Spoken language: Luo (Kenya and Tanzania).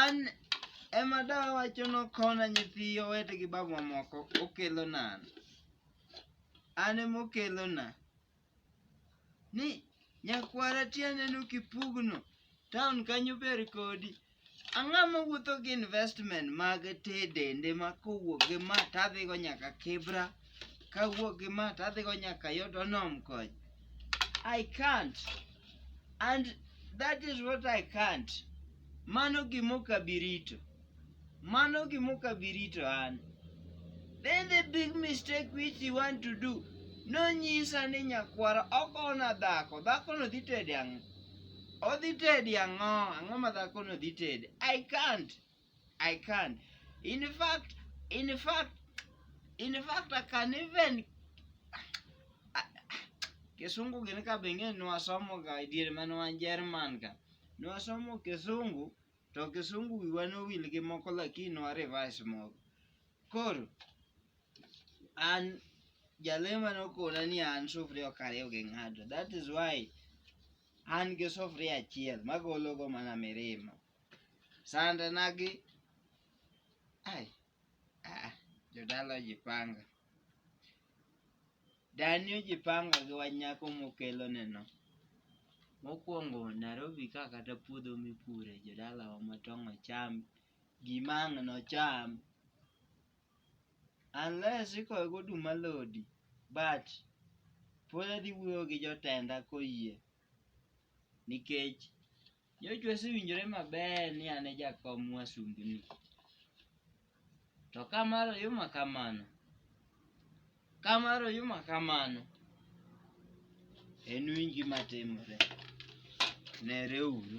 An ema dawa wacho nokona nyithi owete gi babu mamoko okelo nan. An ema okelo na. Ni nyakwara tiende no kipugno. Town kanyo ber kodi. Ang'o mowuotho gi investment mag te dende ma kowuok gi ma tadhigo nyaka Kibra. kawuok gi ma to adhigo nyaka yot onom koch i can't and that is what i can't mano gimok abirito mano gimok abirito an then the big mistake which you want to do nonyisa ni nyakwara okona dhako dhakono dhi tede ang'o odhi tedi ang'o ang'o ma dhakono dhi tede i can't I can. In fact, in fact, in fact, I can even Kisungu gini ka bengine nwasomo ga idiere mane wan Jerman ka. Nwasomo Kisungu to Kisungu wiwa nowil gi moko lakini nwa revise moko. Koro an jalema nokona ni an sufria ok ariw gi ng'ato. That is why an gi sufria achiel magologo mana mirima. sande nagi ai ah, jodala ojipanga dani ojipanga gi wanyako mokelo neno mokwongo narobi ka kata puodho mipure jodalawa matong' ocham gima ang' nocham unless ikoyo goduma lodi but pod adhi wuoyo gi jotenda koyie nikech Jochwe osewinjore maber ni an e jakom wasumbini. To ka mar oyuma kamano, ka mar oyuma kamano, en winji matimore. Nereuru.